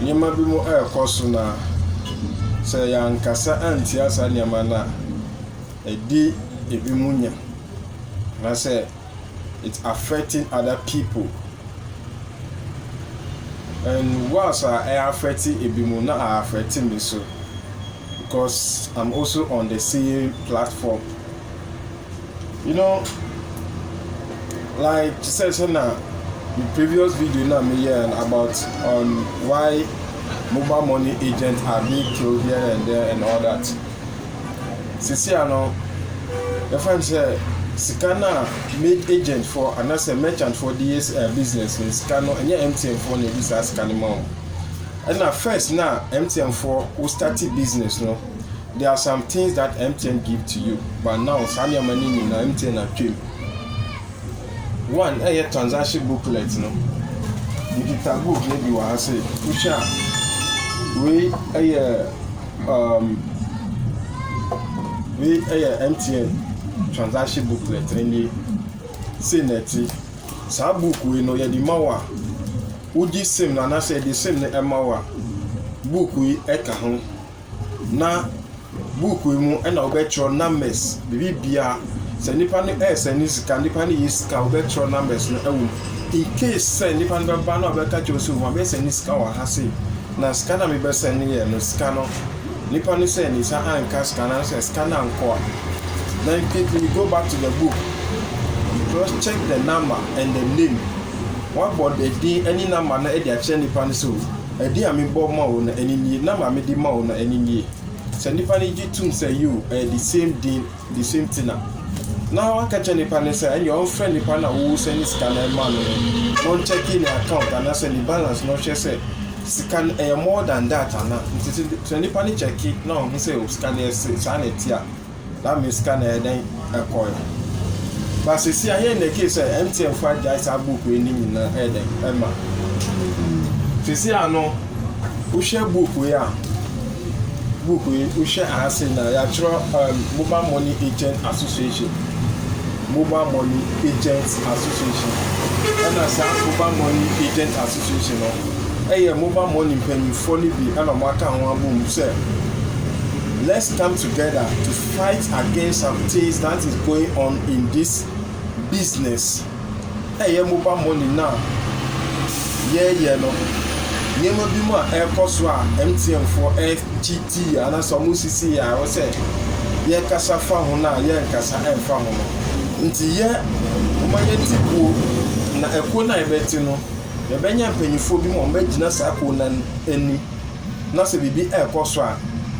Nneɛma bi mo ɛrekɔ so na sɛ yɛankasa antia saa nneɛma no a, ɛdi ebi mo nya. Na sɛ it's affecting other people. And once a ɛyɛ affect ebi mo na a affect me so because I'm also on the same platform. you know like te sɛ sɛ na the previous video na me yɛ about on why mobile money agents are being killed here and there and all that sisi ano yɛfɛn sɛ sika no a made agent for anaasɛ merchant for de yɛ eh, business no sika no ɛnyɛ mtn foɔ na ɛdi saa sika no ma wɔn ɛna first na mtn foɔ wo start business no There are some things that MTN give to you but now saa nneɛma no nyinaa MTN atwa mu. One ɛyɛ transaction booklet no. Mekita book no bi wɔ ha sɛ wohwɛ a wei ɛyɛ um, wei ɛyɛ MTN transaction booklet ɛnie sei na ɛte. Saa book wei no yɛde ma wo a wogye sim no anaasɛ yɛde sim no ɛma wo a book yi ɛka ho na buukuu yi mu na wɔbɛtwerɛ numbers, biribiara. Sɛ nipa no ɛresɛne sika, nipa no yɛ sika a, wɔbɛtwerɛ numbers no wɔ mu. Incase sɛ nipa no bɛba na ɔbɛka kyerɛ wo sɛ mabɛsɛne sika wɔ ha sei, na sika no a mebɛsɛneeɛ no, sika no, nipa no sɛ ne nsa anka sika no anaasɛ sika no ankɔ a, then quickly you go back to the book, cross check the number and the name. Wɔabɔ the din ne number no de akyerɛ nipa no sɛ o. Ɛde a mebɔ ma wo no ɛne nie, nam a mede ma wo no ɛne nie. Sɛ nnipa no gye tom sɛ yoo ɛyɛ the same din, the same thing a, na waka kyerɛ nnipa no sɛ ɛneɛ ɔmfrɛ nnipa no a wo sɛne sika no ɛma no no na ɔnkyɛke ne account anaasɛ ne balance na ɔhwɛ sɛ sika no ɛyɛ more than that anaa. Nti sɛ nnipa no kyɛke na ɔhu sɛ sika no ɛse, saa na ɛte a. na me sika no ɛyɛ dɛn ɛkɔɛ ba sisi a yɛn na ɛkee sɛ MTN fo agyae saa book wei ne nyinaa ɛyɛ dɛn ɛma sisi a no wohwɛ book wei a book wei wohwɛ aha sei na yɛatwerɛ um, mobile money agent association mobile money agent association ɛna saa mobile money agent association no ɛyɛ mobile money mpanyinfoɔ no bi ɛna wɔaka ho abom sɛ Let's come together to fight against some things that is going on in this business. Ɛyɛ mobile money no a yɛyɛ no. Nneɛma bi mu a ɛrekɔ so a MTN foɔ ɛkyiti yɛ anaasɛ wɔn sisi yɛ a ɛwɔ sɛ yɛkasa fa ho no a yɛnkasa ɛmfa ho no. Nti yɛ wɔn yɛ ti kuo na ɛkuo no a yɛbɛte no yɛbɛnya mpanyinfoɔ bi mu a wɔbɛgyina saa kuo no anim. na sɛ biribi rekɔ so a,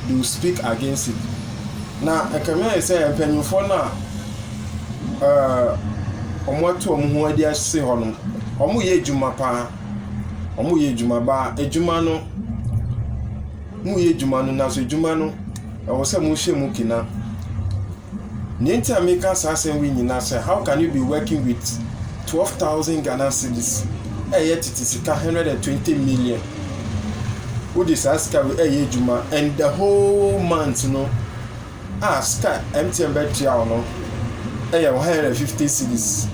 they will speak against it. Na ɛkame ayɛ sɛ mpanyimfoɔ no a ɛɛ wɔatu wɔn ho adi ase hɔ no, wɔyɛ adwuma paa. Wɔyɛ adwuma baa adwuma no, moyɛ adwuma no nanso adwuma no ɛwɔ sɛ mohyɛ mu kena. Nea nti a meka saa asɛm wei nyinaa sɛ how can you be working with twelve thousand Ghana cedis a ɛyɛ tete sika hundred and twenty million wode saa sika wei ɛyɛ adwuma and the whole month no a sika MTN bɛtua wo no ɛyɛ one hundred and fifty cedis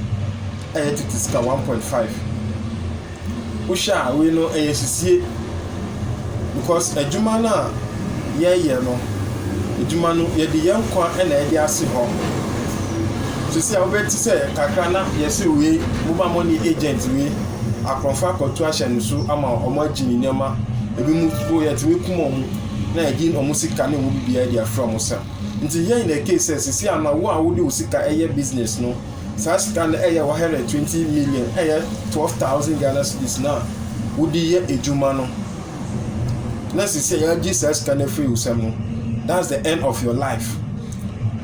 ɛyɛ tete sika one point five. Wohwɛ a wei no ɛyɛ sisie because adwuma no a yɛyɛ no, adwuma no yɛde yɛn nkwa na ɛde ase hɔ. Sisi a wobɛti sɛ kakra na yɛse wei moma mo ne agent wei akorɔmfo akɔto ahyɛ ne so ama wɔn agye ne nneɛma ebi mu po yɛtumi kum wɔn na yɛde wɔn sika ne wɔn biribiara de afra wɔn sɛm. Nti yɛn na ɛkee sɛ sisi a na wo a wode wo sika ɛyɛ business no Saa sika no yɛ 120 million, ɛyɛ 12,000 Ghana cedis no a wode yɛ adwuma no. Na sisi a yɛagye saa sika no afiri wo sɛm no, that's the end of your life.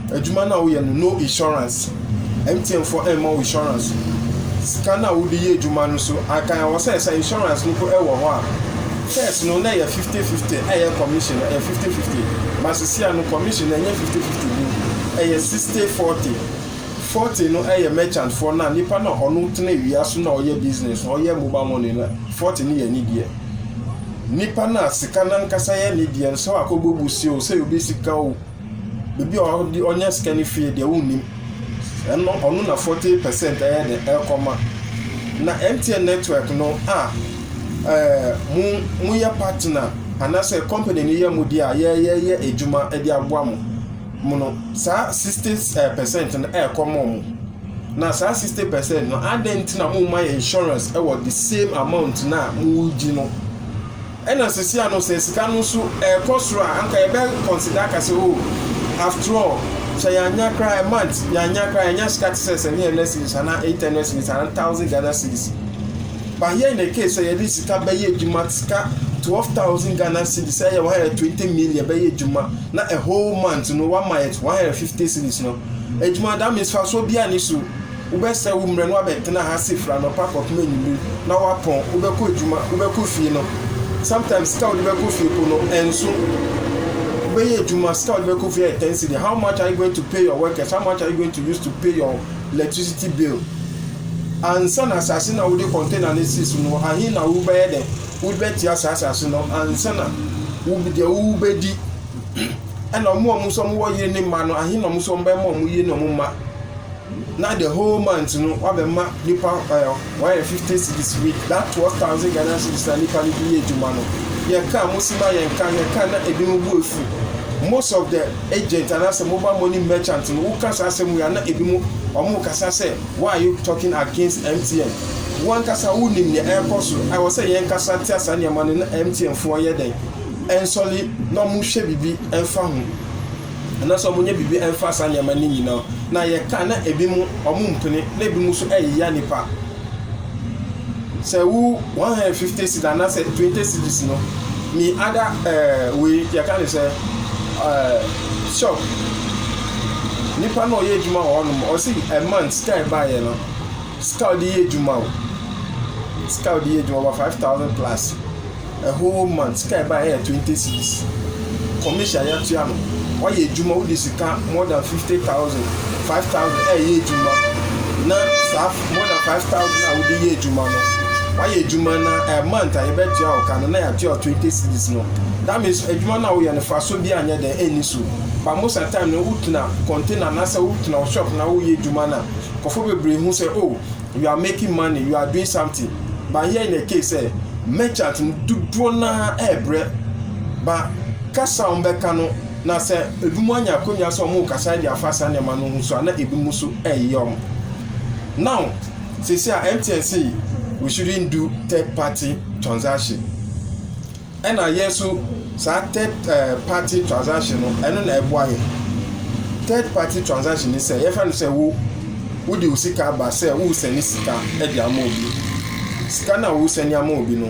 Adwuma no a woyɛ no, no insurance. MTN fo ɛmma wo insurance. Sika no a wode yɛ adwuma no so, anka ɛwɔ sɛ sɛ insurance no po ɛwɔ hɔ a, first no na ɛyɛ 50-50, ɛyɛ commission no, ɛyɛ 50-50. But sisi a no commission no ɛnyɛ 50-50 bio, ɛyɛ 60-40. Forte no yɛ merchant foɔ na nipa no a ɔno tena awia so na ɔyɛ business no ɔyɛ mobile money no forte no yɛ ne deɛ nipa no a sika no ankasa yɛ ne deɛ no sɛ wakɔ bɔ bu si o sɛ obi sika o baabi a ɔde ɔnya sika no fie deɛ wonnim ɛno ɔno na forte percent ɛyɛ de ɛkɔma na MTN network no a ɛɛ mo mo yɛ partner anaasɛ company no yɛ mo deɛ a yɛyɛ yɛ adwuma de aboa mo. mu no, saa 60 eh, percent no ɛrekɔ ma wɔn. Na saa 60 percent no, adɛn nti na mo mma yɛ insurance ɛwɔ the same amount na a mo gyi no? Ɛna sisi ano sɛ sika no nso ɛrekɔ soro a, anka yɛbɛ consider aka sɛ oh, after all, sɛ yɛanya koraa a month, yɛanya koraa yɛanya sika te sɛ 700 series anaa 800 series anaa 1000 Ghana series. But here in the case sɛ yɛde sika bɛyɛ adwuma, sika twelve thousand Ghana cedis a ɛyɛ one hundred twenty million bɛyɛ adwuma na a whole month no wama yɛ one hundred fifty cedis no, adwuma that means fasoɔ biara nni so. Wobɛsrɛ wo mmerɛ na wabɛtena ha ase firi anɔpa kɔpem anwummere na wapɔn, wobɛkɔ adwuma, wobɛkɔ fie no, sometimes sika a wode bɛkɔ fie mpo no ɛnso. Wobɛyɛ adwuma, sika a wode bɛkɔ fie yɛ ten cedi, how much are you going to pay your workers, how much are you going to use to pay your Electricity bill. Ansa na asase no a wode container no si so no, ahe na wobɛyɛ dɛ? Wode bɛtua saa asase no ansa na wo deɛ wobɛdi. Ɛna wɔn a wɔn nso wɔwɔ yere ne mma no, ahe na wɔn nso wɔbɛma wɔn yere ne wɔn mma. Na the whole month no, woabɛma nipa ɛɛ. Wɔayɛ fifty cedis wei that twelve thousand Ghana cedis na nipa no de yɛ adwuma no yɛ kaa mo si ma yɛn kaa yɛ kaa na ebi mo bu efu most of the agent anaasɛ mobile money merchant no woka saa asɛm wei a na ebi mo wɔn kasa sɛ why are you talking against MTN wankasa wo nim nea ɛrekɔ so ɛwɔ sɛ yɛn kasa tia saa nneɛma no na MTN foɔ yɛ dɛn ɛnsɔle na wɔn hwɛ biribi ɛnfa ho. Anaasɛ wɔnyɛ biribi mfa saa nneɛma no nyina o, na yɛka na ebi mo wɔn mpene na ebi mo so ɛyeyɛ nnipa. Sɛ wo 150 cedis anaasɛ 20 cedis no, mi ada ɛɛ eh, wei yɛka ne sɛ ɛɛ eh, shop. Nipa na ɔyɛ adwuma wɔ hɔnom, ɔsi a month sika ɛbaeɛ no. Sika a ɔde yɛ adwuma o, sika a ɔde yɛ adwuma over five thousand plus a whole month sika a ɛbaeɛ yɛ twenty cedis. Commission a yɛatua no, wayɛ adwuma wode sika more than fifty thousand, five thousand ɛreyɛ adwuma na saa more than five thousand a wode yɛ adwuma no wayɛ adwuma na a eh, month a yɛbɛtua wo ka no na yɛatua twenty cedis no. That means adwuma no a woyɛ no fa so bi anyɛ dɛn ɛnni so. Ba mo sa time no wotena container anaasɛ wotena wo shop na woyɛ adwuma no a Nkurɔfoɔ bebree hu sɛ oh you are making money, you are doing something but here in the case sɛ merchant no dodoɔ no ara ɛrebrɛ ba kasa a wɔbɛka no na sɛ ebinom anya akonnwa sɛ wɔrekasa de afa saa nneɛma no ho so a na ebinom nso ɛreyɛ wɔn. Now sisi a MTN say we shouldn't do third party transaction. Ɛna yɛn nso saa third party transaction no ɛno na ɛboa yɛ third party transaction ne sɛ yɛfrɛ no sɛ wo wode wo sika aba sɛ woresɛne sika de ama obi sika no a woresɛne ama obi no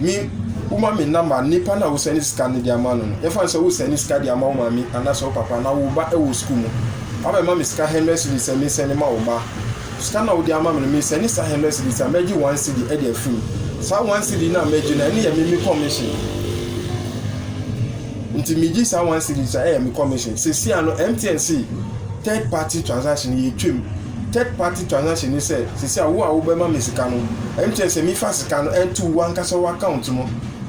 me woma me namba nipa no a wosɛne sika no de ama no no yɛfrɛ no sɛ wosɛne sika de ama wo maame anaasɛ wo papa na wo ba wɔ sukuu mu wabɛma me sika hundred cedis sɛ mesɛne ma wo ba Sika no a wode ama me no, mesɛne saa hundred cedis a, mɛgye one cedi de afiri mu. Saa one cedi no a mɛgye no, ɛno yɛ me me commission. Nti megye saa one cedi so a, ɛyɛ me commission. Seesei ano, MTN se third party transaction, yɛtwam. Third party transaction ne sɛ, seesei a wo a wobɛma me sika no, MTN sɛ mefa sika no nto wo ankasa w'account mu,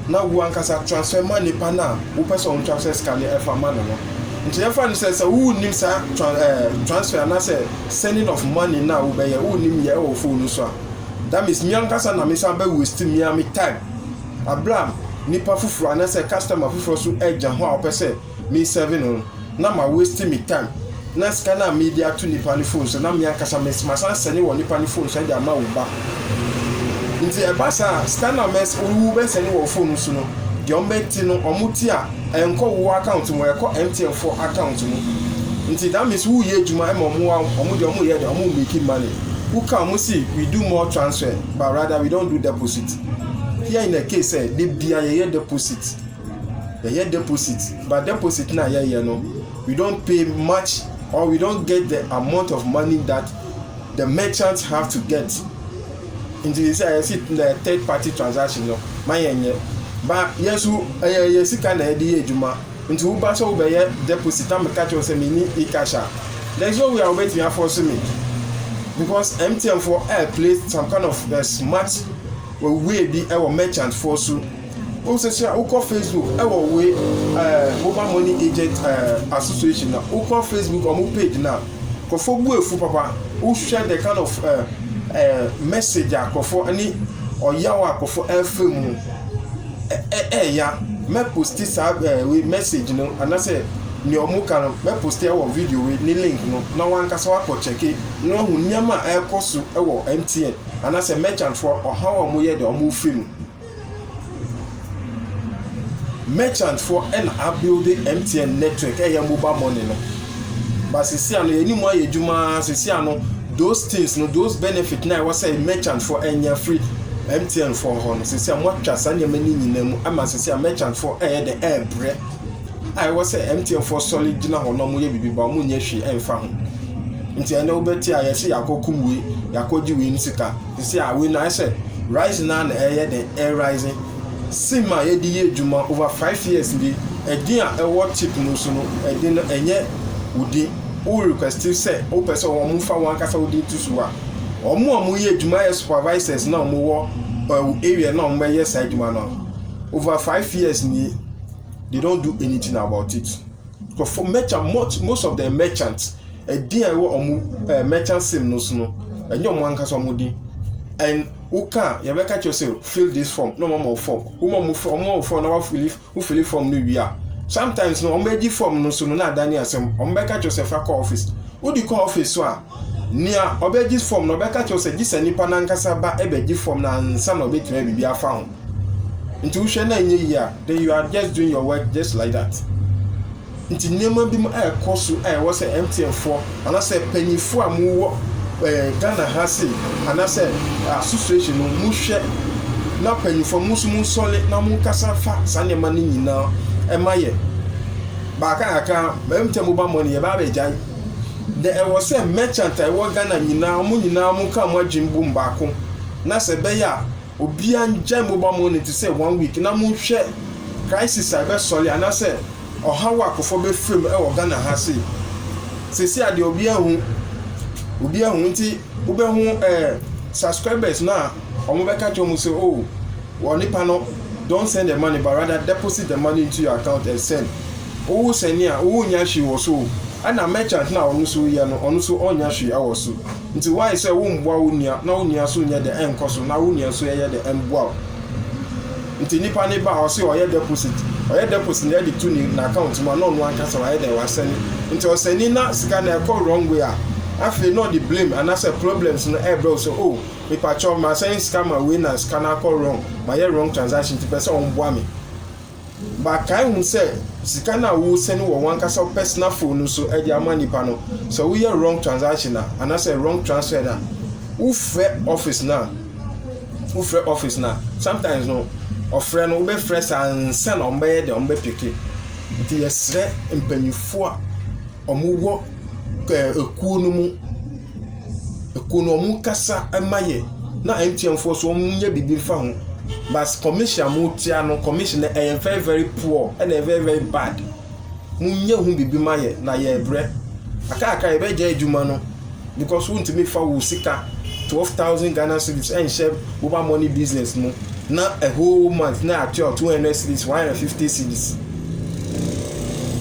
na wo ankasa transfer ma nipa no a wopɛ sɛ ɔntransfer sika no fa ma no no. Nti yɛmfa no sɛ, sɛ wonnim saa tran ɛɛ transfer anaasɛ Sending of money na wo bɛyɛ wo nim yɛ ɛwɔ phone no so a that means me ankasa na me san bɛ waste me ara me time abere a nipa foforɔ anasɛ customer foforɔ so ɛgya ho a ɔpɛ sɛ me serve no no na ma waste me time na sika no a me de ato nipa no phone so na me ankasa me ma san sɛne wɔ nipa no phone so ɛde ama wo ba nti ɛba saa a sika no a wo bɛ sɛne wɔ phone no so no deɛ wɔn bɛ te no wɔn te a. Ɛnkɔ wo account mu ɛkɔ MTN foɔ account mu nti that means wo yɛ adwuma ɛma ɔmo a ɔmo deɛ ɔmo yɛ deɛ ɔmo make money wo ka ɔmo si we do more transfer but rather we don't do deposit here in the case sɛ de bia yɛ yɛ deposit yɛ yɛ deposit but deposit na yɛ yɛ no we don't pay much or we don't get the amount of money that The merchant have to get nti sɛ a yɛsi na third party transaction no ma yɛn nyɛ ba yɛn so ɛyɛ yɛ sika na yɛde yɛ adwuma nti wo ba sɛ wo bɛyɛ deposit na meka kyerɛ sɛ mini e cash a there is no way a wo bɛtumi afɔ so me because MTN for air play some kind of uh, smart way bi ɛwɔ merchant for so. Wo nso sua, wo kɔ Facebook ɛwɔ we ɛɛ mobile money agent ɛɛ association na wo kɔ Facebook ɔmo page na kɔfɔ bu efu papa wo hwɛ the kind of ɛɛ ɛɛ message a kɔfɔ ɛne ɔyaw a kɔfɔ ɛɛfɛ mu ɛɛ ɛɛya mɛ posti saa ɛɛ we message no anasɛ nea ɔmo ka no mɛ posti ɛwɔ video we ne link no na wankasa wakɔ kyɛke na wahu nneɛma a ɛɛkɔ so ɛwɔ MTN anasɛ merchant foɔ ɔhaw a ɔmo yɛ deɛ ɔmo fɛ mu. Merchant foɔ ɛna a build MTN network ɛyɛ mobile money no but sisi ano yɛn mu ayɛ adwuma sisi ano those things no those benefit na ɛwɔ sɛ merchant foɔ ɛnya free MTN foɔ hɔ no sisi a moatwa saa nneɛma no nyinaa mu ama sisi a merchant foɔ ɛyɛ de ɛɛbrɛ a ɛwɔ sɛ MTN foɔ sɔre gyina hɔ na wɔyɛ biribi ba wɔn nyɛ hwee ɛnfa ho nti ɛnɛ wobɛte a yɛsi yɛakɔ kum wei yɛakɔ gye wei no sika Sisi a, woenyan sɛ Rising no ara na ɛreyɛ dɛn erise. Sim a yɛde yɛ edwuma over five years ni, din a ɛwɔ tip no so no, din no nnyɛ wo din. Wo request sɛ wopɛ sɛ wɔfa w'ankasa wo din to so a, wɔn a wɔyɛ edwuma yɛ supervisors na wɔwɔ wo area na wɔbɛyɛ saa edwuma no. Over five years ni, they don't do anything about it. Nkurɔfoɔ merchant much most of the merchant ɛdin a ɛwɔ ɔmo ɛɛ merchant sim no so no ɛnyɛ ɔmo ankasa ɔmo din and woka a yɛbɛka kyerɛ sɛ fill this form na ɔmo ama wo form woma ɔmo fɔ ɔmo wo form na wafili wofili form no wie a sometimes no ɔmo bɛgye form no so no na adane asɛm ɔmo bɛka kyerɛ sɛ fa kɔ office wodi kɔ office so a Nea ɔbɛgye fam no, ɔbɛka kyerɛ wo sɛ gye sɛ nipa no ankasa ba bɛgye fam no ansa na ɔbɛtumi ayɛ biribi afa ho. Nti wohwɛ na ɛnyɛ yie a, then you are just doing your work just like that. Nti nneɛma bi mu ɛrekɔ so a ɛwɔ sɛ MTN foɔ anaasɛ mpanyinfoɔ a mowɔ ɛɛ eh, Ghana ha se anaasɛ eh, association no mohwɛ na mpanyinfoɔ mo nso monsɔre na monkasa fa saa nneɛma no nyinaa ɛma yɛ. Baaka kakra, MTN mobile money yɛbaa bɛgyae. Nea ɛwɔ sɛ merchant a ɛwɔ Ghana nyinaa, wɔn nyinaa wɔnka wɔn adwene bom baako na sɛ ɛbɛyɛ a obiara ngyae mobile money te sɛ one week na monhwɛ crisis a ɛbɛsɔre anaasɛ ɔhaw a akofoɔ bɛfrɛ mu wɔ Ghana ha sei. Seesei a deɛ obiara hu, obiara hu nti wobɛhu eh, subscribers no a wɔbɛka kyerɛ wɔn sɛ oh, onipa no don't send the money but rather deposit the money into your account and send. Wo wo sɛnea a wo nnya hwee wɔ so o ɛna merchant no a ɔno nso yɛ no ɔno nso ɔnnya hwee ɛwɔ so nti why sɛ wo mboa wo nua na wo nua nso nyɛ dɛ ɛnkɔ so na wo nua nso ɛyɛ dɛ ɛmboa wo nti nipa no ba a ɔse ɔyɛ deposit ɔyɛ deposit na ɛde to ne na account mu a na ɔno ankasa wayɛ dɛ wasɛne nti ɔsɛni na sika no ɛkɔ wrong way a afei na ɔde blame anasɛ problems no ɛbrɛ wo sɛ oh mepakyɛw masɛne sika ma wei na sika no akɔ wrong mayɛ wrong transaction nti pɛ sɛ ɔmboa me. Makae hu sɛ sika no a wo sɛne wɔ wankasa wo personal phone no so de ama nipa no sɛ wo yɛ wrong transaction a anasɛ wrong transfer na wo frɛ office na wo frɛ office na sometimes no ɔfrɛ no wobɛ frɛ saa nsa na wɔn bɛyɛ deɛ wɔn bɛ peke nti yɛsrɛ mpanyinfoɔ a wɔn wɔ ɛɛ ekuo no mu. Ekuo no ɔmo kasa ma yɛ na MTN foɔ so ɔmo nyɛ biribi nfa ho but commission a mo tua no commission no ɛyɛ very very poor ɛna ɛyɛ very very bad mo nyɛ ho biribi ma yɛ na yɛ brɛ akaakra yɛ bɛ gya adwuma no because wo ntumi fa wo sika twelve thousand Ghana cedis ɛnhyɛ mobile money business mu na a whole month na atua two hundred cedis one hundred fifty cedis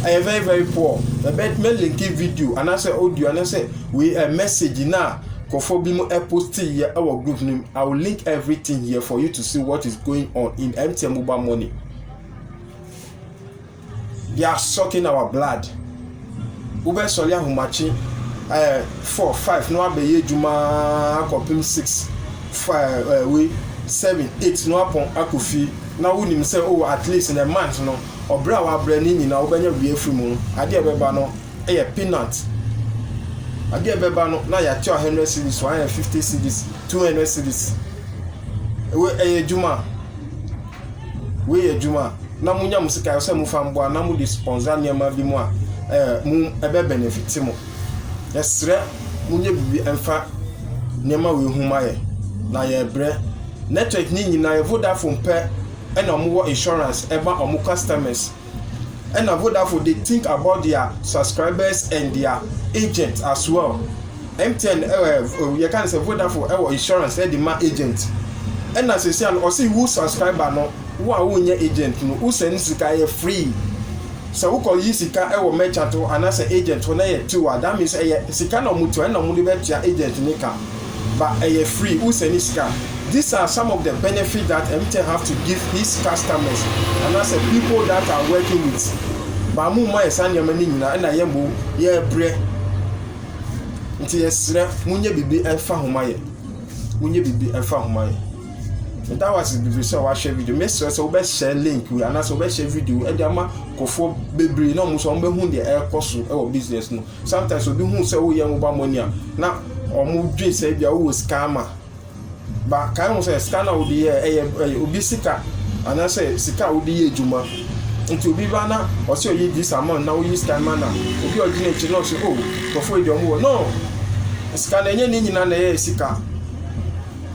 ɛyɛ very very poor ɛbɛ mɛ linki video anaasɛ audio anaasɛ Wei yɛ message no a nkurɔfoɔ binom posteeɛ wɔ group no mu. I will link everything here for you to see what is going on in MTN mobile money. They are sucking our blood. Wobɛsɔre ahomakye ɛɛ eh, four five na wabɛyɛ adwuma akɔpem six five ɛɛ eh, wei seven eight na wapɔn akɔ fie na wonim sɛ oh at least in a month no ɔbrɛ a wabrɛ ne nyinaa wobɛnya wie afiri mu no adeɛ ɛbɛba no yɛ peanut. Adeɛ a ɛbɛba no na yɛatua hundred cedis so, ayɛ fifty cedis, two hundred cedis. Wei ɛyɛ adwuma. Wei yɛ adwuma. Na mo nya mo sika sɛ mo fa mboa na mo de sponsor nneɛma bi mu a, ɛɛ mo ɛbɛ benefit mo. Yɛsrɛ mo nyɛ biribi ɛnfa nneɛma wei ho ma yɛ na yɛbrɛ. Network ne nyinaa yɛ Vodafone pɛ ɛna wɔn wɔ insurance ɛma wɔn customers. Ɛna Vodafone dey think about their subscribers and their agent as well. MTN ɛɛ yɛ ka no sɛ Vodafone ɛwɔ insurance ɛde ma agent. Ɛna sɛsia no ɔsi wo subscriber no wo a wo nyɛ agent no wo send sika ɛyɛ free. Sɛ wo kɔ yi sika ɛwɔ merchant hɔ anaa sɛ agent hɔ na ɛyɛ tiw a that means ɛyɛ sika na ɔmo tua ɛna ɔmo de bɛ tua agent ne ka. but ɛyɛ free wo sɛne sika these are some of the benefit that mtn have to give his customers anasɛ people that are working with but mo mma yɛ saa nneɛma no nyinaa ɛna yɛ mbo yɛ brɛ nti yɛ srɛ mo nyɛ bibi ɛfa ho ma yɛ mo nyɛ bibi ɛfa ho ma yɛ ɛda wase bibi sɛ wahwɛ video me srɛ sɛ wobɛhyɛ link wi anasɛ wobɛhyɛ video ɛde ama kɔfoɔ bebree na ɔmo so ɔmo bɛhu deɛ ɛrekɔ so ɛwɔ business no Sometimes obi hu sɛ woyɛ mobile money a na ɔmo dwen sɛ ebia wowɔ sika ama. Ba kae ho sɛ sika na wode yɛ ɛyɛ ɛyɛ obi sika anaasɛ sika a wode yɛ adwuma. Nti obi ba na ɔsɛ ɔyɛ this amount na woyi sika ma na obi a ɔgyina akyire na ɔsɛ oh nkurɔfoɔ yi deɛ ɔmo wɔ no sika na ɛnyɛ ne nyinaa na ɛyɛ sika.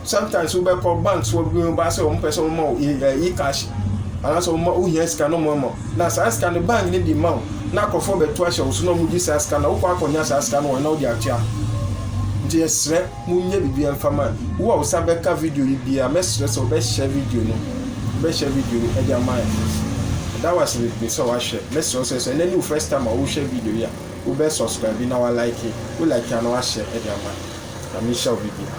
sometimes wo bɛ kɔ banks wɔ bi ba sɛ wɔn pɛ sɛ wɔn ma wo e cash anaasɛ wɔn ma wo hia sika na wɔn ama na saa sika no bank ne di ma wo na akɔfo bɛ to ahyɛ wo so na wɔn di saa sika na wokɔ akɔnya saa sika no wɔn na wɔde atua nti yɛsrɛ mo nyɛ bibi ɛnfa ma wo a wo sa bɛka video yi bi a mɛsrɛ sɛ wɔbɛhyɛ video no wɔbɛhyɛ video no ɛde ama yɛ ɛda wɔ ase bebree sɛ wɔahwɛ mɛsrɛ sɛ sɛ ɛnɛ ne wo first time a wohwɛ video yi a wobɛ subscribe na wa like wo like a na wahyɛ ɛde ama na mehyɛ wo bibi